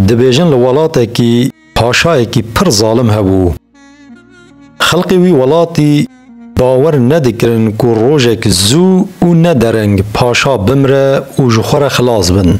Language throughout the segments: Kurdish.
Dibêjin li welatekî paşayekî pir zalim hebû. Xelkê wî welatî bawer nedikirin ku rojek zû û ne dereng paşa bimre û ji xwe re xilas bin.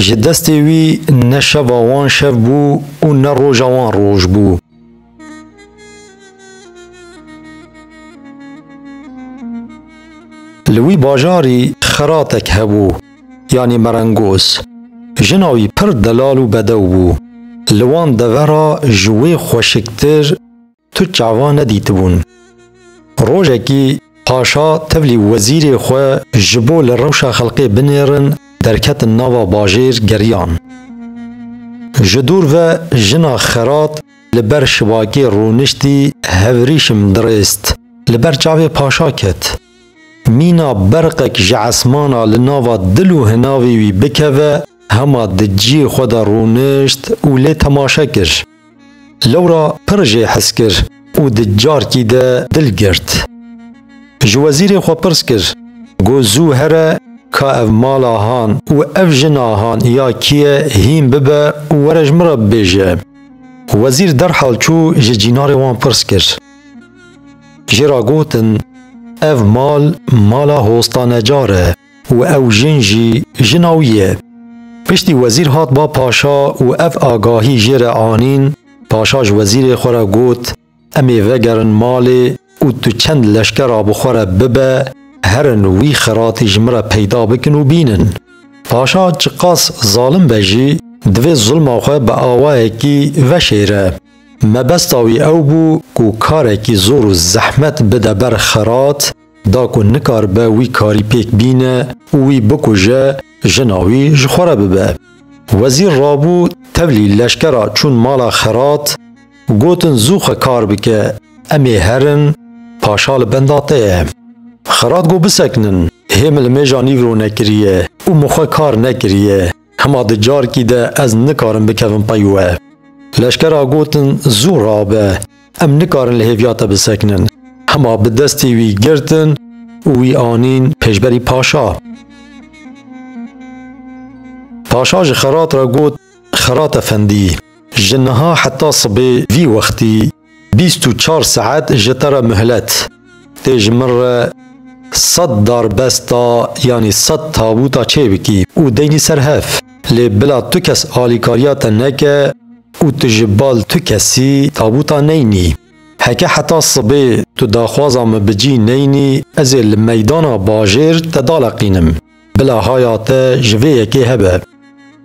Ji destê wî ne şeva wan şev bû û ne roja wan roj bû. Li wî bajarî xiratek hebû, yanî merengoz. Jina wî pir delal û bedew bû. Li wan deve ra ji wê xweşiktir tu çava nedîtibûn. Rojekî paşa tevlî wezîrê xwe ji bo li rewşa xelkê binêrin derketin nava bajêr geriyan. Ji dûr ve jina xirat Li ber şibakê rûniştî hevrîşim dirêst. Li ber çavê paşa ket. Mîna berqek ji esmana li nava dil û hinavê wî bikeve hema di ciyê xwe de rûnişt û lê temaşe kir. Lewra pir jê hes kir û di carkî de dil girt. Ji wezîrê xwe pirs kir, Got zû here ka ev mala han û ev jina han ya kî ye hîn bibe û were ji min re bibêje. Wezîr derhal çû ji cînarê wan pirs kir. Jê ra gotin, Ev mal mala Hosta Necar e û ew jin jî jina wî ye. Piştî wezîr hat ba paşa û ev agahî jê re anîn, paşa ji wezîrê xwe re got, Em ê vegerin malê û tu çend leşkera bi xwe re bibe herin wî xeratî ji min re peyda bikin û bînin. Paşa çiqas zalim be jî divê zulma xwe bi awayekî veşêre. Mebesta wî ew bû ku karekî zor û zehmet bide ber xerat, Da ku nikaribe wî karî pêk bîne û wî bikuje, jina wî ji xwe re bibe. Wezîr rabû tevlî leşkera çûn mala xerat, gotin zû xwe kar bike, em ê herin, paşa li benda te ye. Xerat got bisekinin, hê min li mêja nîv ronekiriye û min xwe kar nekiriye. Hema di carkî de ez nikarim bikevim pey we. Leşkera gotin zû rabe, em nikarin li hêviya te bisekinin. Hema bi destê wî girtin û wî anîn pêşberî paşa. Paşa ji Xerat re got, Xerat efendî, ji niha heta sibê vî wextî bîst û çar saet ji te re mihlet. Tê ji min re sed darbesta yanî sed tabûta çê bikî û deynî ser hev. Lê bila tu kes alîkariya te neke û tu ji bal tu kesî tabûta neynî. Heke heta sibê tu daxwaza min bi cî neynî, ez ê li meydana bajêr te daleqînim. Bila haya te ji vê yekê hebe.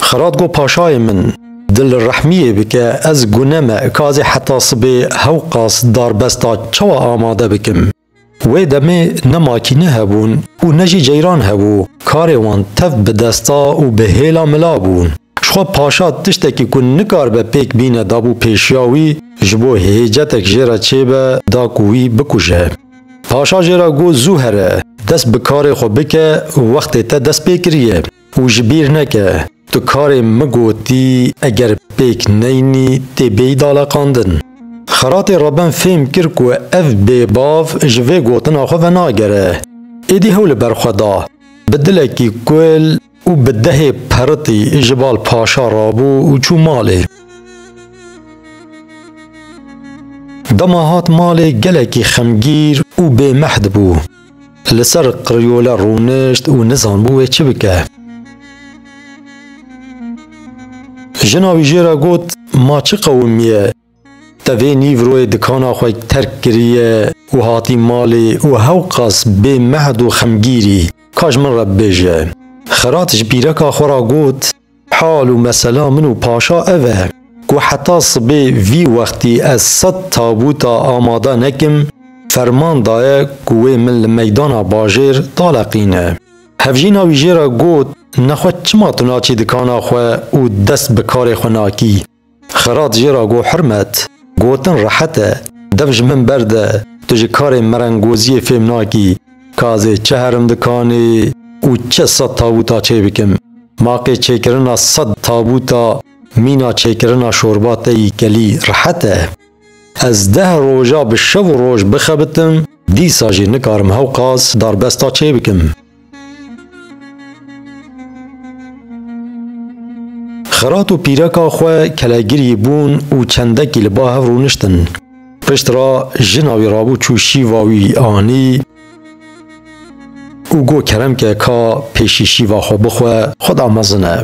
Xirat got paşayê min, dilrehmiyê bike ez gune me kazê heta sibê hewqas darbesta çawa amade bikim. Wê demê ne makîne hebûn û ne jî ceyran hebû, karê wan tev bi desta û bi hêla mila bû. Jixwe paşa tiştekî ku nikaribe pêk bîne dabû pêşiya wî, ji bo hêcetek jê re çêbe da ku wî bikuje. Paşa jê re got zû here, dest bi karê xwe bike, wextê te dest pê kiriye û ji bîr neke, tu karê min gotî eger pêk neyinî tê bêyî daleqandin. Xeratê Reben fêm kir ku ev bêbav ji vê gotina xwe venagere, êdî hewl li ber xwe da, bi dilekî kul, Û bi dehê peritî ji bal paşa rabû û çû malê. Dema hat malê gelekî xemgîr û bêmehd bû. Li ser qiriyole rûnişt û nizanbû wê çi bike. Jina wî jê re got, Ma çi qewimiye? Te vê nîvroyê dikana xwe terk kiriye û hatî malê û hewqas bê mehd û xemgîrî, ka ji min re bibêje. Xirat ji pîreka xwe re got, Hal û mesela min û paşa ev e, ku heta sibê vî wextî ez sed tabûta amade nekim, ferman daye ku wê min li meydana bajêr daleqîne. Hevjîna wî jê re got, Nexwe çima tu naçî dikana xwe û dest bi karê xwe nakî? Xirat jê ra got Hirmet, gotin rehet e, dev ji min berde, tu ji karê merengoziyê fêm nakî, ka ez ê çi herim dikanê û çi sed tabûta çê bikim. Maqê çêkirina sed tabûta mîna çêkirina şorba te yî kelî rehet e. Ez deh roja bi şev û roj bixebitim, dîsa jî nikarim hewqas darbesta çê bikim. Xirat û pîreka xwe kelegirî bûn û çendekî li ba hev rûniştin. Pişt re jina wî rabû çû şîva wî anî û got, Kerem ke ka pêşî şîva xwe bixwe, xwe da mezin e.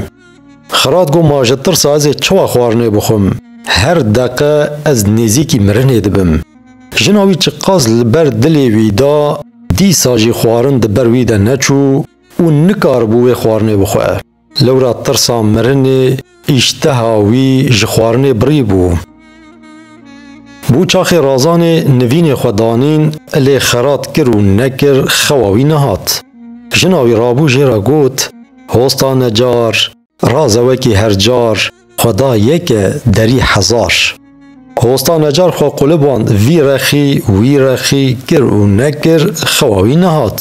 Xerat got ma ji tirsa ez ê çiwa xwarinê bixwim. Her deqe ez nêzîkî mirinê dibim. Jina wî çiqas li ber dilê wî da, dîsa jî xwarin di ber wî de neçû û nikaribû wê xwarinê bixwe. Lewra tirsa mirinê îşteha wî ji xwarinê birîbû. Bû çaxê Razanê nivînê xwe danîn, lê Xerat kir û nekir xewa wî nehat. Jina wî rabû jê re got. Hosta ne car, raze wekî her car, xwe da yeke, derî hezar. Hosta ne car xwe quliband vî rexî, wî rexî, kir û nekir, xewa wî nehat.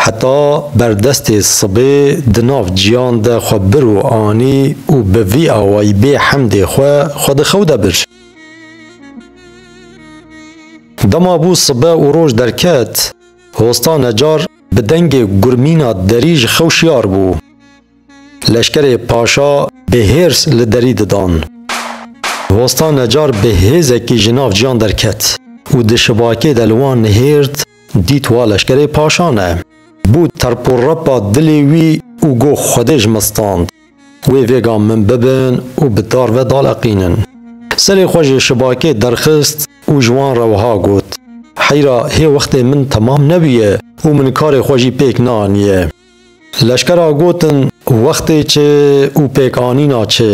Heta berdestê sibê di nav ciyan de xwe bir û anî û bi vî awayî bê hemdê xwe, xwe di xew de bir. Dema bû sibe û roj derket, hosta ne car, bi dengê gurmîna derî ji xew şiyar bû. Leşkerê paşa bi hêrs li derî didan. Hosta necar bi hêzekî ji nav ciyan derket û di şibakê de li wan nihêrt, dît wa leşkerê paşa ne. Bû terporepa dilê wî û got Xwedê ji min stand. Wê vêga min bibin û bi dar ve daleqînin. Serê xwe ji şibakê derxist û ji wan re wiha got, Heyra hê wextê min temam nebûye û min karê xwe jî pêk neaniye. Leşkera gotin, Wextê çi û pêkanîna çi?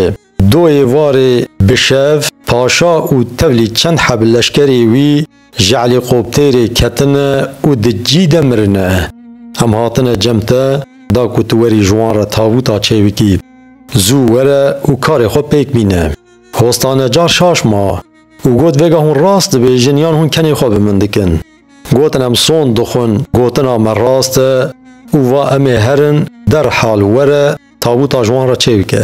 Doyê warê bi şev, paşa û tevlî çend heb leşkerê wî Ji helîkoptêrê ketine û di cî de mirine. Em hatine cem te, da ku tu werî ji wan re tabûta çê bikî. Zû were û karê xwe pêk bîne. Hostanecar şaş ma û got vêga hûn rast dibêjin yan hûn kenê xwe bi min dikin. Gotin em sond dixwin gotina me rast e û va em ê herin derhal were Tabuta ji wan re çê bike?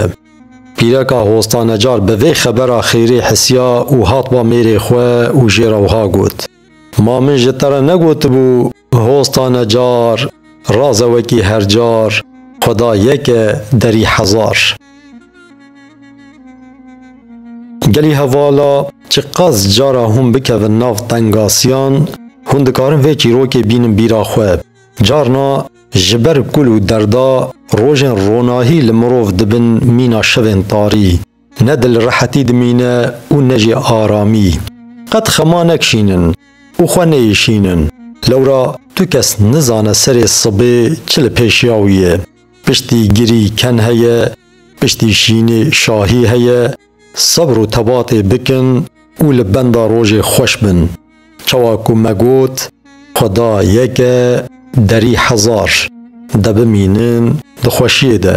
Pîreka Hostanecar bi vê xebera xêrê hisiya û hat ba mêrê xwe û jê re wiha got, Ma min ji te re negotibû Hostanecar, raz e wekî her car, Xweda yek e, derî hezar. Gelî hevala, çiqas cara hûn bikevin nav tengasiyan, hûn dikarin vê çîrokê bînin bîra xwe. Carna. Ji ber kul û derda rojên ronahî li mirov dibin mîna şevên tarî. Ne dil rehetî dimîne û ne jî aramî. Qet xema nekişînin û xwe neyişînin. Lewra tu kes nizane serê sibê çi li pêşiya wî ye. Piştî girî ken heye, piştî şînê şahî heye, Sebr û tebatê bikin û li benda rojê xweş bin. Çawa ku me got, Xweda yek e, derî hezar, de bimînin di xweşiyê de.